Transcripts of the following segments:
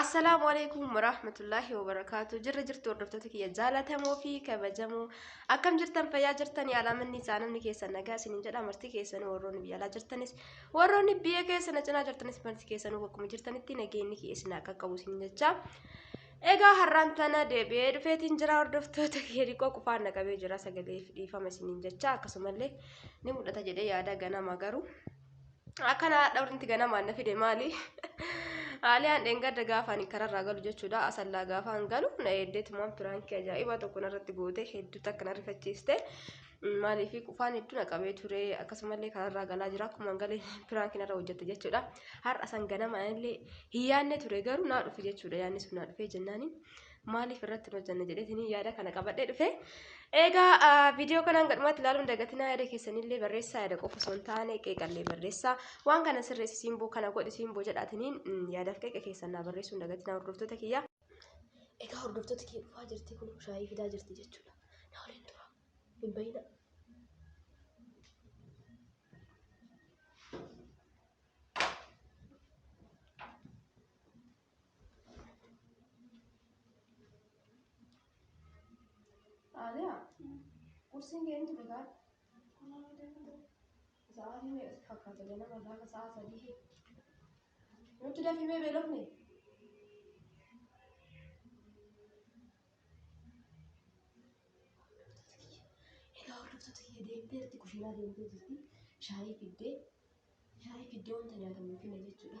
Assalaamu alaikum warahmatullahi wabarakatuh jirra jirtu hordoftoota kiyya jaalatamoo fi kabajamoo akkam jirtan fayyaa jirtan yaalamanni isaa namni keessan nagaa isinin jedha marti keessanuu warroonni biyya alaa jirtanis warroonni biyya keessana cinaa jirtanis marti keessanuu bakkuma jirtanitti nageenyi kiyya isin akka qabu isin jecha egaa har'aan tana deebi'ee dhufeetiin jira hordoftoota kiyya dhiqoo qufaan naqabee jira sagalee fi dhiifama isinin jecha akkasumallee ni mul'ata jedhee yaada ganama garuu Akkana haadha walitti ganamaan na fide maali? Aaliyaan dheengadda gaafa ani kararraa galu jechuudha. Asallaa gaafa an galu na eeddeetumaan piraankii ajaa'ibaa tokko narratti goote hedduu takka na rifachiiste. Maaliif qufaan hedduu na qabee ture akkasumallee kararraa galaa jira akkuma an galee piraankiin irra hojjette jechuudha. Har'a san ganama anillee hin yaadne ture garuu naa dhufe jechuudha yaadni sun naa dhufee jennaaniin. maaliif irratti hin hojjanne jedheetiin yaada kana qabadhee dhufe. Egaa viidiyoo kanaan gadhumatti ilaaluun dagatinaa yaada keessanillee barreessaa yaada qofa osoo hin taane qeeqallee barreessaa waan kana sirreessi simboo kana godhi simboo jedhaatiniin yaadaaf qeeqa keessan naa barreessuun dagatinaa hordoftoota kiyya. Egaa hordoftoota kiyya dhufaa jirti kun shaayii fidaa jirti jechuudha. Na waliin tura hin bahina. Aaliyaa, kursiin ga'een ture gaadha. Sa'aatii meeqa si fakkaata ganama gaafa sa'a sadii. Nutti dafimee beelofne. Egaa hordoftoota kiyya deemtee irratti kushiinaa deemtee jirti. Shaayii fiddee shaayii fiddee wanta nyaatamu hin finne jechuudha.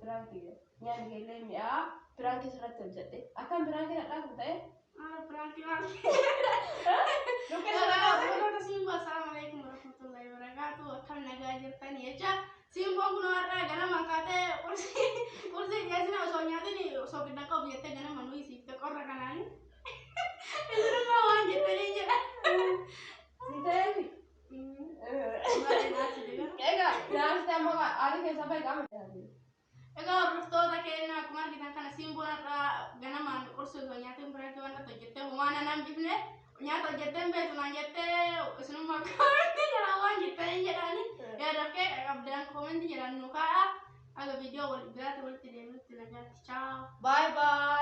Piraan kiyya. Nyaanni keellee mi'aa piraan keessa irratti hojjedhe. Akkaan piraan keessa dhaabu ta'e. Ah, prank lah. Luka Salam, Luka Simba, Assalamualaikum warahmatullahi wabarakatuh. Akkam nagaa jirtan jecha Simboon kun har'a ganama kaatee qursi qursi dhiyeessina osoo nyaatin osoo gidda qabu jettee ganama nuyi siif ta'e qorra kanaan. Isinummaa waan jettanii jedha. Ni ta'eefi. Egaa daansi amma aarii keessaa bahe qaama jiraatu. Egaa hordoftoota keenya akkuma argitan kana simboon irraa ganamaan qursi osoo nyaatiin biraatti waan irratti hojjettee homaa nan hambifne nyaata hojjettee hin beektu naan jettee isinummaa koomentii jala waan jettee hin jedhaani yaadaaf kee qabdaan koomentii jedhan nu kaa'a aga viidiyoo wal biraatti walitti deemutti nagaatti chaaw. Bye bye.